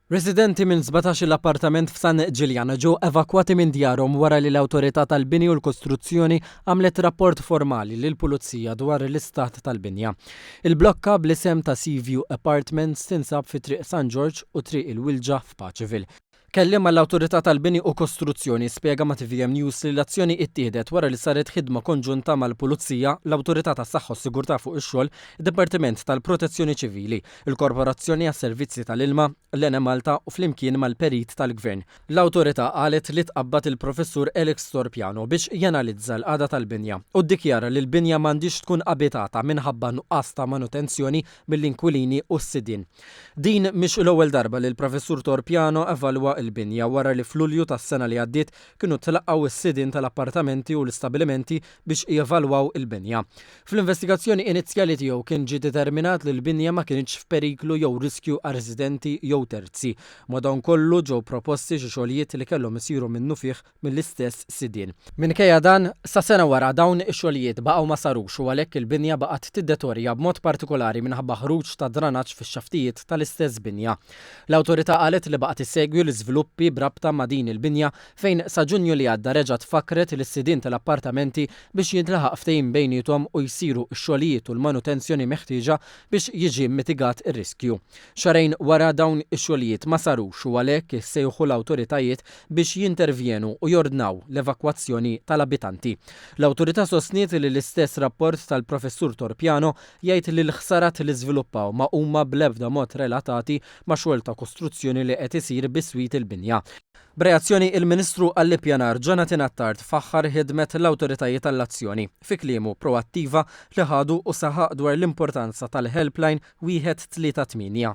Residenti minn sbatax-il appartament f'San Ġiljan ġew evakwati minn djarhom wara li l-Awtorità tal-Bini u l-Kostruzzjoni għamlet rapport formali lill-Pulizija dwar l-istat tal-binja. Il-blokka bl-isem ta' Sea View Apartments tinsab fi Triq San Ġorġ u Triq il-Wilġa f'Paceville. Kelliem għall-Awtorità tal-Bini u Kostruzzjoni spjega ma' tvm News li l-azzjoni ittieħdet wara li saret ħidma konġunta mal-Pulizija, l-Awtorità tas-Saħħa u s-Sigurtà fuq ix-Xogħol, id-Dipartiment tal-Protezzjoni Ċivili, il-Korporazzjoni għas-Servizzi tal-Ilma, l-Enemalta u flimkien mal-perit tal-Gvern. L-Awtorità qalet li tqabbad il-Professur Alex Storpiano biex janalizza l-qagħda tal-binja u ddikjara li l-binja m'għandhiex tkun abitata minħabba nuqqas ta' manutenzjoni mill-inkwilini u s-sidien. Din mhix l-ewwel darba li l-Professur Torpiano evalwa l-binja wara li f'Lulju tas-sena li għaddiet kienu tlaqgħu s-sidien tal-appartamenti u l-istabilimenti biex jevalwaw il-binja. Fl-investigazzjoni inizjali tiegħu kien ġie determinat li l-binja ma kinitx f'periklu jew riskju għar-residenti jew terzi. Madankollu, ġew proposti xi xogħlijiet li kellhom isiru minnufih mill-istess sidien. Minkejja dan, sa sena wara dawn ix-xogħlijiet baqgħu ma sarux u għalhekk il-binja baqgħet tiddetorja b'mod partikolari minħabba ħruġ ta' dranaġġ fix-xaftijiet tal-istess binja. L-Awtorità qalet li baqgħet issegwi l-iżviluppi b'rabta ma' din il-binja fejn sa Ġunju li għadda reġgħet fakkret lis-sidien tal-appartamenti biex jintlaħaq ftehim bejniethom u jsiru x-xogħlijiet u l-manutenzjoni meħtieġa biex jiġi mmitigat ir-riskju. Xahrejn wara dawn ix-xogħlijiet ma sarux u għalhekk issejħu l-awtoritajiet biex jintervjenu u jordnaw l-evakwazzjoni tal-abitanti. L-Awtorità sostniet li l-istess rapport tal-Professur Torpiano jgħid li l-ħsarat li żviluppaw ma huma bl-ebda mod relatati ma' xogħol ta' kostruzzjoni li qed isir biswit il-binja. B'reazzjoni, il-Ministru għall-Ippjanar, Jonathan Attard, faħħar ħidmet l-awtoritajiet għall-azzjoni, fi kliemu, proattiva li ħadu u saħaq dwar l-importanza tal-helpline wieħed tlieta tmienja.